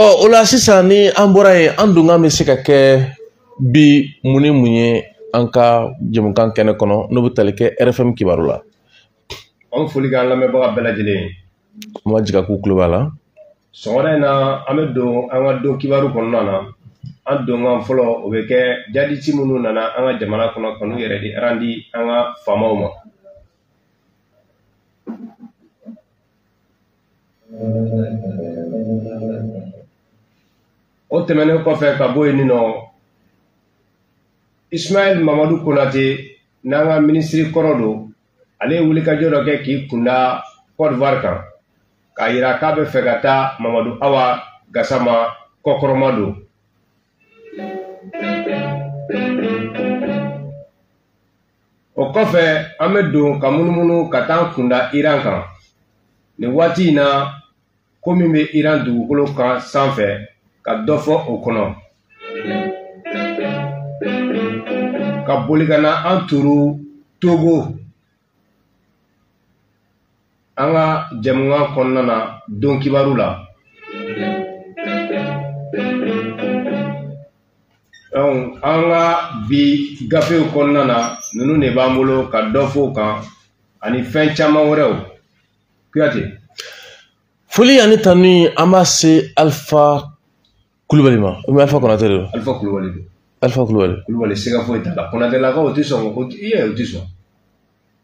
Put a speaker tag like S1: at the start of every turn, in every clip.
S1: ɔ o la sisan ni an bɔra yen an donkan bɛ se ka kɛ bi mun ni mun ye an ka jɛmukan kɛnɛ kɔnɔ n'o bɛ tali kɛ rfm kibaru la an
S2: foli k'an lamɛnbaga bɛɛ lajɛlen ye an b'a jigi k'u
S1: tulo b'a la sɔgɔmada in
S2: na an bɛ don an ka don kibaru kɔnɔna na an donkan fɔlɔ o bɛ kɛ jaditi minnu nana an ka jamana kɔnɔ ka n'u yɛrɛ di arandi an ka faamaw ma o tɛmɛnen kɔfɛ ka bɔ yen nɔ ismaɛl mamadu konate n'an ka minisiri kɔrɔ don ale ye wulikajɔ dɔ kɛ k'i kunda kɔdiwari kan k'a yira k'a bɛ fɛ ka taa mamadu awa gasama kɔkɔrɔma don o kɔfɛ an bɛ don ka munumunu ka t'an kunda iran kan nin waati in na ko min bɛ iran dugukolo kan sanfɛ ka dɔ fɔ o kɔnɔ ka boli ka na an turu togo an ka jɛmukan kɔnɔna na don kibaru la an ka bi gafew kɔnɔna na ninnu de b'an bolo ka dɔ fɔ o kan ani fɛn caman wɛrɛw
S1: kuyate foli ani tanu an b'a se alifa kulubali ma u bɛ alifa konate de don alifa kulubali don
S2: alifa kulubali kulubali
S1: siga foyi t'a la
S2: konatelakaw tɛ sɔn ko i yɛrɛ u tɛ sɔn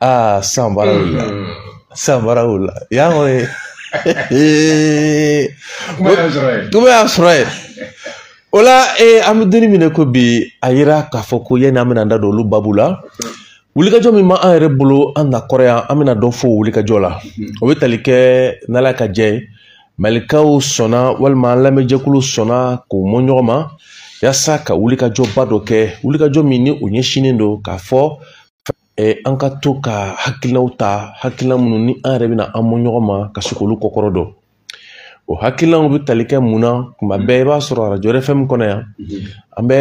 S1: aa san baara wulila san baara wulila yan kɔni ee kuma y'a sɔrɔ yen kuma y'a sɔrɔ yen o la ee an bɛ don in min na ko bi a yira k'a fɔ ko yanni an bɛna an da don olu baabu la wulikajɔ min b'an yɛrɛ bolo an na kɔrɔ yan an bɛna dɔ fɔ o wulikajɔ la o bɛ tali kɛ n'ala ka jɛn ye malikaw sɔnna walima an lamɛnjɛkulu sɔnna k'u mɔ ɲɔgɔn ma yasa ka wulikajɔba dɔ kɛ wulikajɔ min ni o ɲɛsinnen don k'a fɔ an ka to ka hakilinaw ta hakilina minnu ni an yɛrɛ bɛna an mɔ ɲɔgɔn ma ka se k'olu kɔkɔrɔ don o hakilinaw bɛ tali kɛ mun na tuma bɛɛ i b'a sɔrɔ arajo rfm kɔnɔ yan an bɛ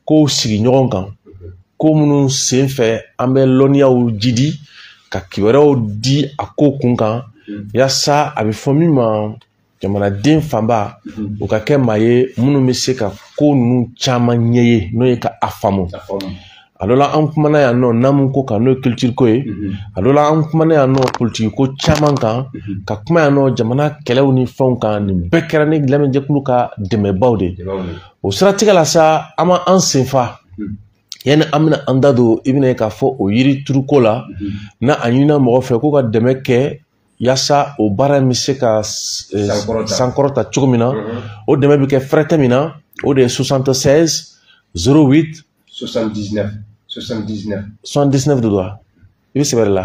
S1: kow sigi ɲɔgɔn kan ko minnu sen fɛ an bɛ lɔnniyaw jidi ka kibaruyaw di a ko kun kan mm. yasa a bɛ fɔ min ma jamanaden fanba mm-hmm. u ka kɛ maa ye minnu bɛ se ka ko ninnu caman ɲɛ ye n'o ye ka a faamu a dɔ la an kumana yan nɔ naamu ko kan n'o ye culture ko ye mm-hmm. a dɔ la an kumana yan nɔ politiki ko caman kan mm-hmm. ka kuma yan nɔ jamana kɛlɛw ni fɛnw kan nin bɛɛ kɛra ni lamɛnjɛkulu ka dɛmɛbaw de o siratigɛ la sa an b'an sen fa yanni an bɛna an da don i bɛna ye k'a fɔ o yiri turuko la na a ɲinina mɔgɔ fɛ k'u ka dɛmɛ kɛ yaasa o baara in bɛ se ka eh, Sankɔrɔta. sankɔrɔta cogo min na o dɛmɛ bɛ kɛ fɛrɛtɛ min na o de ye 76 08 79 79 de don wa i bɛ sɛbɛn de la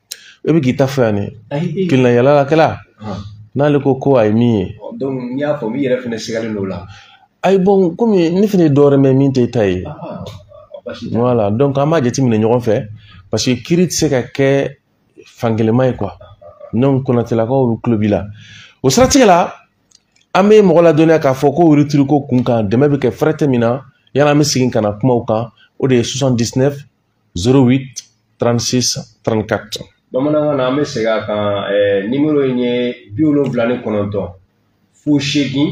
S1: e bɛ k'i ta fɔ yan ne keleya yalakɛla n'ale ko ko a ye min ye n y'a fɔ n
S2: yɛrɛ fɛnɛ sigalen don o la ayi bɔn kɔmi
S1: ne fɛnɛ ye dɔwɛrɛ mɛn min tɛ e ta ye wala dɔnku an b'a jateminɛ ɲɔgɔn fɛ paseke kiiri tɛ se ka kɛ fankelenma ye kuwa dɔnku konatɛlakaw bɛɛ tulo b'i la o siratigɛ la an bɛ mɔgɔ ladɔnniya k'a fɔ ko yirituruko kun kan dɛmɛ bɛ kɛ fɛrɛtɛ min na yanni an bɛ segin ka na kumaw kan o de ye 08 36 34 bamanankan na an
S2: bɛ segin a kan ɛɛ nimoro in ye bi wolonwula ni kɔnɔntɔn fu seegin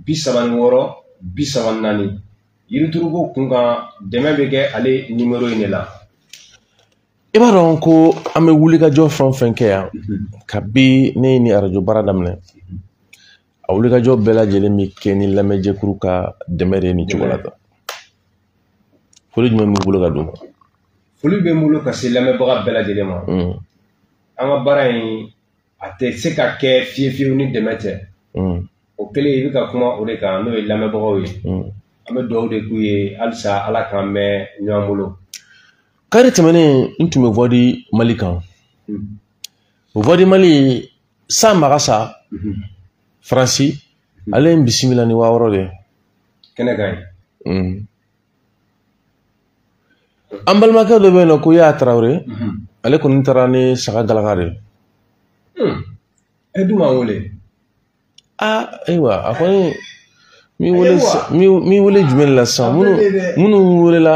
S2: bi saba ni wɔɔrɔ bi saba ni naani yirituruko kun kan dɛmɛ bɛ kɛ ale nimoro in de
S1: la i b'a dɔn ko an bɛ wulikajɔ fɛn o fɛn kɛ yan kabi ne ye nin arajo baara daminɛ a wulikajɔ bɛɛ lajɛlen bɛ kɛ ni lamɛnjɛkuru ka dɛmɛ de ye nin cogo la tan foli jumɛn b'i bolo ka d'u ma foli bɛ
S2: n bolo ka se lamɛnbaga bɛɛ lajɛlen ma mm. an ka baara in a tɛ se ka kɛ fiye fiyewu ni dɛmɛ tɛ mm. o kɛlen i bɛ ka kuma o de kan n'o ye lamɛnbagaw ye mm. an bɛ dugawu de k'u ye halisa ala k'an mɛn ɲɔgɔn bolo
S1: kari tɛmɛnen n tun bɛ voix du mali kan o voix du mali san magasa faransi ale ye n bisimila ni wa wɔɔrɔ de ye kɛnɛ kan yen an balimakɛ dɔ bɛ yen nɔ ko yaya tarawele ale kɔni taara ni saga galaka de ye
S2: e dun m'an wele
S1: aa ayiwa a kɔni m'i wele m'i wele jumɛn de la sisan minnu minnu welela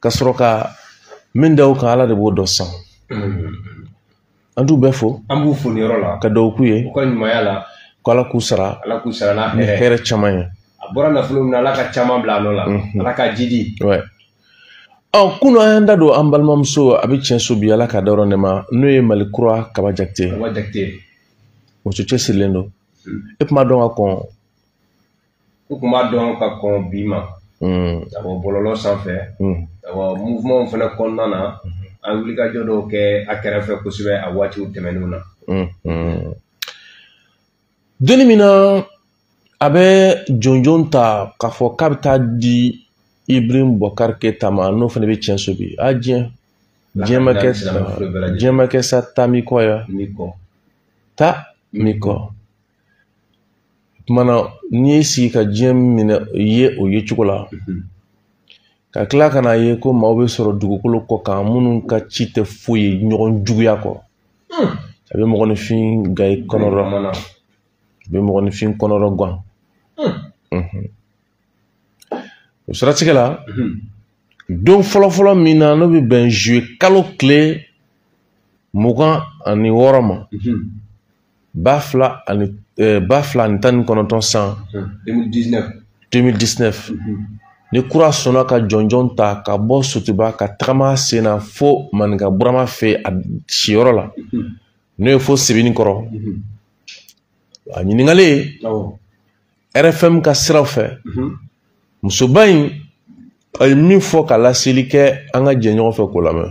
S1: ka sɔrɔ ka min da o kan ala de b'o dɔn san an t'u bɛɛ fo an b'u fo nin yɔrɔ la ka
S2: dugawu k'u ye u ka ɲumanya
S1: la
S2: ko ala k'u sara
S1: ala k'u sara ni
S2: hɛrɛ caman ye
S1: a bɔra nafolo min na ala
S2: ka caman bila a nɔ la mhm. ala k'a
S1: jiidi ɔ kunu an y'an da don an balimamuso a bɛ tiɲɛ so bi ala k'a dayɔrɔ nɛɛma n'o ye mali kura kaba jakite kaba jakite
S2: muso
S1: cɛsirilen don mm. e tun b'a dɔn ka kɔn
S2: n tun b'a dɔn ka kɔn bi ma awɔ bɔlɔlɔ sanfɛ awɔ muvumanw fana kɔnɔna na an wulikajɔ dɔw kɛ a kɛrɛfɛ kosɛbɛ a waatiw tɛmɛnenw na donni min na
S1: a bɛ jɔnjɔn ta k'a fɔ k'a bɛ taa a di ibrahim bubakari keyita ma n'o fana bɛ tiɲɛ so bi a diɲɛ diɲɛ ma kɛ diɲɛ ma kɛ sa taa mi kɔ ya ta mi kɔ tumana n'i y'i sigi ka diɲɛ minɛ ye o ye cogo la ka tila ka n'a ye ko maaw bɛ sɔrɔ dugukolo kɔ kan minnu ka ci tɛ foyi ye ɲɔgɔn juguya kɔ a bɛ mɔgɔninfin ga i kɔnɔ a bɛ mɔgɔninfin kɔnɔrɔ gan o siratigɛ la don fɔlɔfɔlɔ min na n'o bɛ bɛn zuwe kalo tile mugan ani wɔɔrɔ ma ba fila ani eh, ba fila ani tan ni kɔnɔntɔn san 2019 ni kura sɔnna ka jɔnjɔn ta ka bɔ sotuba ka tagama sen na fo maninka burama fɛ a siyɔrɔ la n'o ye fo sebenikɔrɔ a ɲininkali ye awɔ rfm ka siraw fɛ mhm. musoba in a ye min fɔ ka laseli kɛ an ka jɛ ɲɔgɔn fɛ k'o lamɛn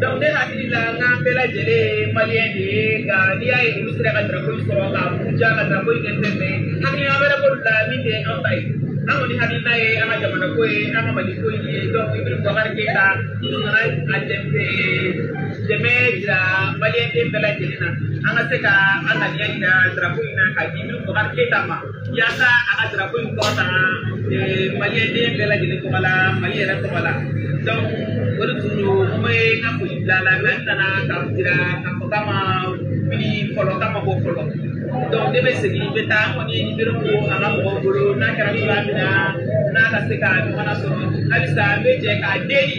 S3: Donc ne hakili la n k'an bɛɛ lajɛlen ye maliyɛn de ye nka n'i y'a ye olu sera ka drapeau in sɔrɔ ka buruja ka drapeau in kɛ fɛn fɛn ye hakilina wɛrɛ b'olu la min tɛ an ta ye an kɔni hakilina ye an ka jamana ko ye an ka mali ko ye donc Ibrahim Boubacar Keita n nana a dɛmɛ jira maliyɛnden bɛɛ lajɛlen na an ka se ka an ŋaniya jira drapeau in na ka di Ibrahim Boubacar Keita ma yaasa a ka drapeau in kɔrɔta maliyɛnden bɛɛ lajɛlen tɔgɔ la mali yɛrɛ tɔgɔ la donc o de tun don n bɛ n ka foli bila a la mais n nana ka jira k'a fɔ k'a ma wuli fɔlɔ k'a ma bɔ fɔlɔ donc ne bɛ segin n bɛ taa kɔni Ibrahim ka mɔgɔw bolo n'a kɛra cogoya min na n'a ka se ka ɲɔgɔn na sɔrɔ halisa n bɛ jɛ k'a deli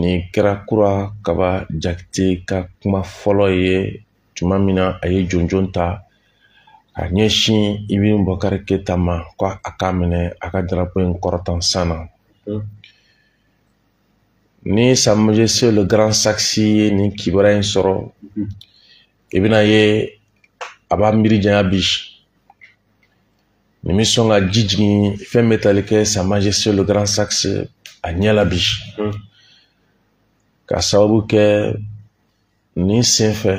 S1: Nin kɛra kura kaba jakite ka kuma fɔlɔ ye tuma min na a ye jɔnjɔn ta ka ɲɛsin Ibn Bɔkari Keita ma ko a k'a minɛ a ka darapo in kɔrɔta san na hmm. ni Sa Majesté le Grand Saxi ye nin kibaruya in sɔrɔ hmm. i bɛna ye a b'a miiri janya bi nin bɛ sɔn ka ji jigin fɛn bɛ tali kɛ Sa Majesté le Grand Sax a ɲɛ la bi hmm. k'a sababu kɛ nin sen fɛ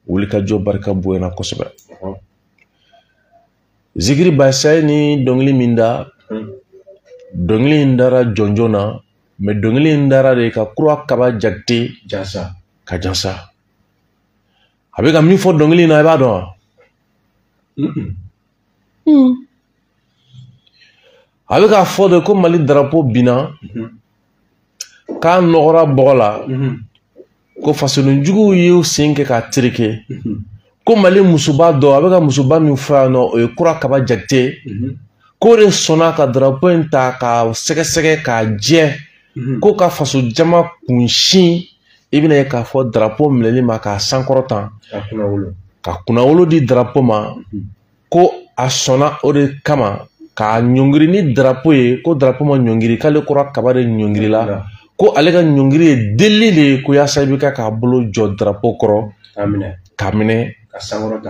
S1: wulikajɔ barika bonyana kosɛbɛ hmm. zikiri basa ye nin dɔnkili min da hmm. dɔnkili in dara jɔnjɔn na mais dɔnkili in dara de ka kura kaba jakite jansa ka jansa a bɛ ka min fɔ dɔnkili in na i b'a dɔn wa hmm. a bɛ k'a fɔ de ko mali darapo binna mhm. k'a nɔgɔra bɔgɔ la mhm. ko fasodenjuguw y'u sen kɛ k'a tereke mhm. ko mali musoba dɔ a bɛ ka musoba min fɔ yan nɔ o ye kura kaba jakite k'o de sɔnna ka darapo in ta k'a sɛgɛsɛgɛ k'a jɛ ko ka faso jama kunsin i bɛna ye k'a fɔ darapo minɛli ma k'a sankɔrɔta ka kunnawolo di darapo ma mhm. ko a sɔnna o de kama k'a ɲɔngiri ni darapo ye ko darapo ma ɲɔngiri k'ale kura kaba de ɲɔngirila ko ale ka ɲɔngiri ye delili de ye ko yaasa i bɛ ka k'a bolo jɔ darapo kɔrɔ k'a minɛ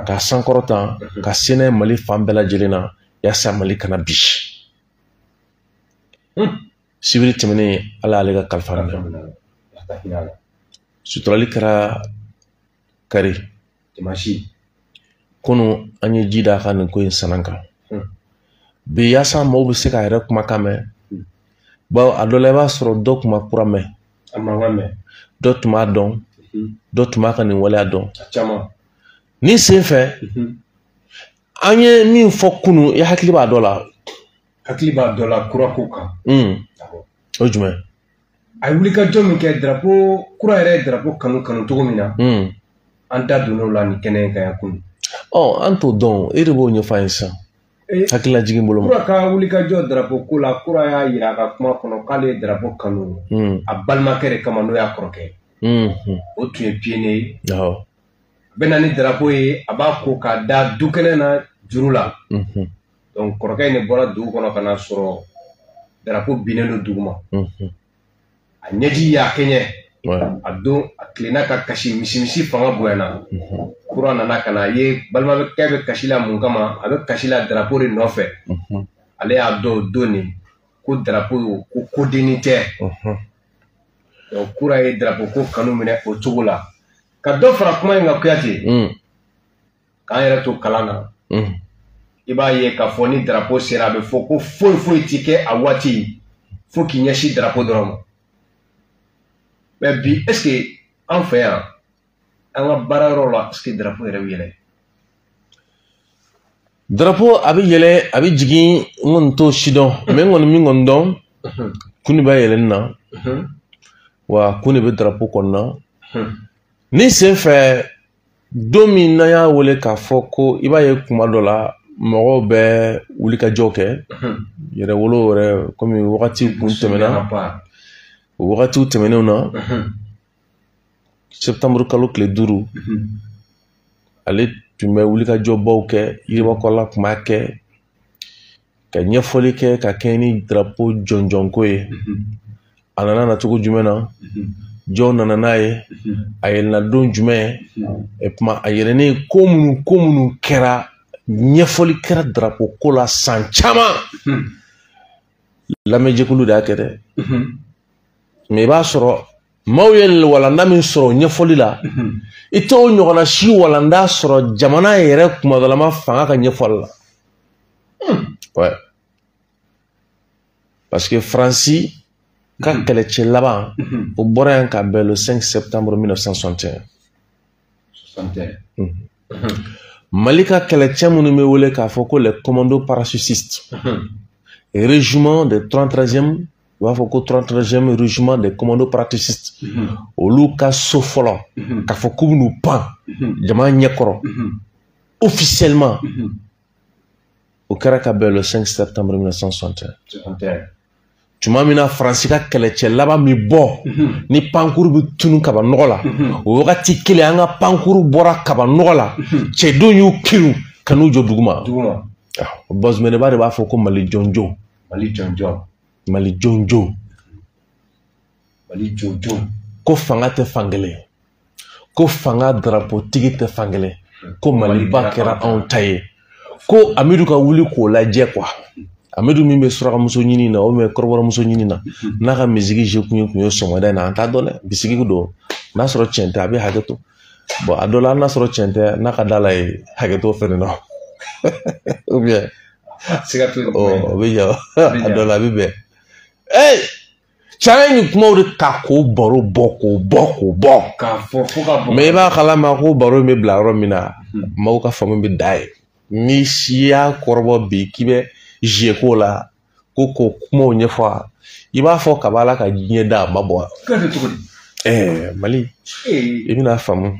S1: k'a sankɔrɔta mhm. ka se n'a ye mali fan bɛɛ lajɛlen na yaasa mali kana bin hmm. sibiri tɛmɛnen ala y'ale ka kalifa minɛ suturali kɛra kari kunu an ye ji d'a kan nin ko in sanan kan hmm. bi yaasa maaw bɛ se k'a yɛrɛ kumakan mɛn hmm. bawo a dɔ la i b'a sɔrɔ dɔ tun ma kura mɛn dɔ tun m'a dɔn hmm. dɔ tun m'a ka nin waleya dɔn nin sen fɛ an ye min fɔ kunu i hakili b'a dɔ la hakili b'a dɔ
S2: la kura ko kan
S1: hmm. o jumɛn a ye
S2: wulikajɔ min kɛ darapo kura yɛrɛ ye darapo kanu kanu cogo min na hmm. an
S1: da
S2: donn'o
S1: la
S2: nin kɛnɛ
S1: in kan
S2: yan
S1: kunu
S2: ɔ
S1: an
S2: t'o
S1: dɔn
S2: e
S1: de b'o
S2: ɲɛfɔ
S1: an ye
S2: sisan eh,
S1: hakililajigin bolo ma kura ka
S2: wulikajɔ darapo ko la kura y'a yira a ka kuma kɔnɔ k'ale ye darapo kanu hmm. a balimakɛ de kama n'o y'a kɔrɔkɛ o tun ye piyɔniye ye a bɛ na ni darapo ye a b'a ko k'a da du kɛnɛ na juru la donc kɔrɔkɛ in de bɔra dugu kɔnɔ ka na sɔrɔ darapo binnen don duguma mhm. a ɲɛji y'a kɛɲɛ a don a tilenna ka kasi misimisi fanga bonyana mhm. kura nana ka na a ye balimakɛ bɛ kasi la mun kama a bɛ kasi la darapo de nɔfɛ mhm. ale y'a dɔn o don nin ko darapo ko kodennin tɛ kura ye darapo ko kanu minɛ o cogo la ka dɔ fara kuma in kan kuyate mm. k'an yɛrɛ to kalan na mm. i b'a ye k'a fɔ ni darapo sera a bɛ fɔ ko foyi foyi ti kɛ a waati fo k'i ɲɛsin darapo dɔrɔn ma mɛ bi est ce que an fɛ yan an ka baara yɔrɔ la est ce que darapo yɛrɛ bɛ
S1: yɛlɛ darapo a bɛ yɛlɛ a bɛ jigin n kɔni t'o si dɔn mɛ n kɔni min kɔni dɔn kun de b'a yɛlɛnni na wa kun de bɛ darapo kɔnɔna nin sen fɛ don min n'an y'a wele k'a fɔ ko i b'a ye kuma dɔ la mɔgɔw bɛ wulikajɔw kɛ mhm. yɛrɛwolo yɛrɛ komi wagati kun tɛmɛna o wagatiw tɛmɛnenw na mhm. septembre kalo tile duuru mhm. ale tun bɛ wulikajɔbaw kɛ yiribakɔla tun b'a kɛ ka ɲɛfɔli kɛ ka kɛɲɛ ni darapo jɔnjɔnko ye a nana na cogo jumɛn na jɔn nana n'a ye a yɛlɛnna don jumɛn et puis a yɛlɛnnen ko minnu ko minnu kɛra ɲɛfɔli kɛra darapo ko la san caman lamɛnjɛkulu de y'a kɛ dɛ mɛ i b'a sɔrɔ maaw ye walanda min sɔrɔ ɲɛfɔli la i t'o ɲɔgɔnna si walanda sɔrɔ jamana yɛrɛ kunmadalama fanga ka ɲɛfɔli la ouais. parce que faransi ka kɛlɛcɛ laban o bɔra yan ka bɛn le 5 septembre 1961 mali ka kɛlɛcɛ minnu bɛ wele k'a fɔ ko les commandos parachutistes régiment de 33e u b'a fɔ ko 33e régiment des commandos parachutistes mhm. olu ka saut fɔlɔ mhm. k'a fɔ k'u bɛn'u pan mhm. jama ɲɛkɔrɔ officiellement o kɛra ka bɛn le 5 septembre 1961 tuma min na faransi ka kɛlɛcɛ laban min bɔ ni pankuru bɛ tunun kabanɔgɔ la o wagati kelen an ka pankuru bɔra kabanɔgɔ la cɛdenw y'u kerun ka n'u jɔ duguma bazumanaba de b'a fɔ ko mali jɔnjɔn mali jɔnjɔn mali jɔnjɔn mali jɔnjɔn ko fanga tɛ fankelen ko fanga darapotigi tɛ fankelen ko maliba kɛra anw ta ye ko amidu ka wuli k'o lajɛ quoi amidu min bɛ surakamuso ɲini na ou bien kɔrɔbɔrɔmuso ɲini na n'a ka misiri je kun ye kun ye sɔgɔmada in na an t'a dɔn dɛ bisigi don n'a sɔrɔ cɛn tɛ a bɛ hakɛ to bon a dɔ la n'a sɔrɔ cɛn tɛ n'a ka da la ye hakɛ to fɛnɛ na siga t'o la. o bɛ ɲa a dɔ la a bɛ bɛn. ee caman ye nin kumaw de ta k'o baro bɔ k'o bɔ k'o bɔ. k'a fɔ fo ka bɔ. mɛ i b'a kalama ko baro in bɛ bila yɔrɔ min na maaw ka faamu bɛ dan yen ni si y'a kɔrɔbɔ bi k'i bɛ jeu k'o la ko k'o kumaw ɲɛfɔ a i b'a fɔ kab'ala ka diɲɛ da a ma bɔ. k'a kɛ cogo di. ɛɛ mali i bɛna faamu.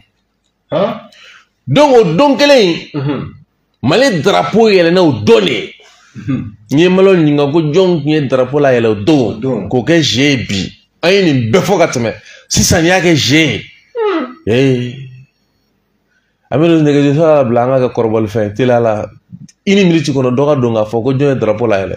S1: donc o don kelen in mhm. mali darapo yɛlɛnna o don de ye mhm. n ye malo ɲininka ko jɔn tun ye darapo layɛlɛ o don k'o kɛ jeu ye bi an ye nin bɛɛ fɔ ka tɛmɛ sisan n'i y'a kɛ jeu ye hmm. ee an bɛ don nɛgɛjurusira labila an ka kɛ kɔrɔbɔlifɛn teliya la une minute kɔnɔ dɔ ka don k'a fɔ ko jɔn ye darapo layɛlɛ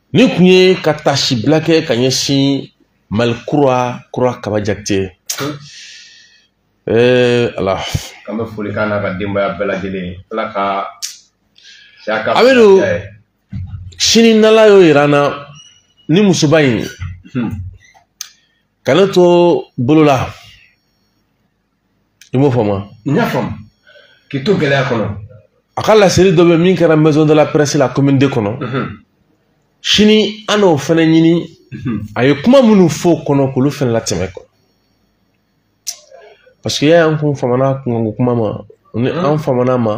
S1: nin kun ye ka tasibila kɛ ka ɲɛsin mali kura kura kaba jakite ee ala an bɛ foli k'a
S2: n'a ka denbaya bɛɛ lajɛlen ala ka a bɛ
S1: don sini n'ala y'o yira an na ni musoba in hmm. ka ne to bolo la i m'o faamu wa. n y'a
S2: faamu k'i to gɛlɛya kɔnɔ. a ka
S1: laseli dɔ bɛ min kɛra maison de la presse la commune deux kɔnɔ. sini an n'o fana ɲini. a ye kuma minnu fɔ o kɔnɔ k'olu fana latɛmɛ kɔ parce que y'a an kun famana a ka kuma ma ni an famana a ma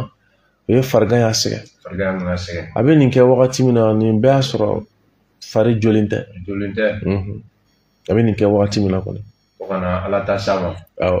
S1: o ye farigan y'a sɛgɛn a bɛ nin kɛ wagati min na nin bɛɛ y'a sɔrɔ fari jɔlen tɛ
S2: a
S1: bɛ nin kɛ wagati
S2: min na
S1: kɔni
S2: fo ka na
S1: ala ta s'a
S2: ma
S1: awɔ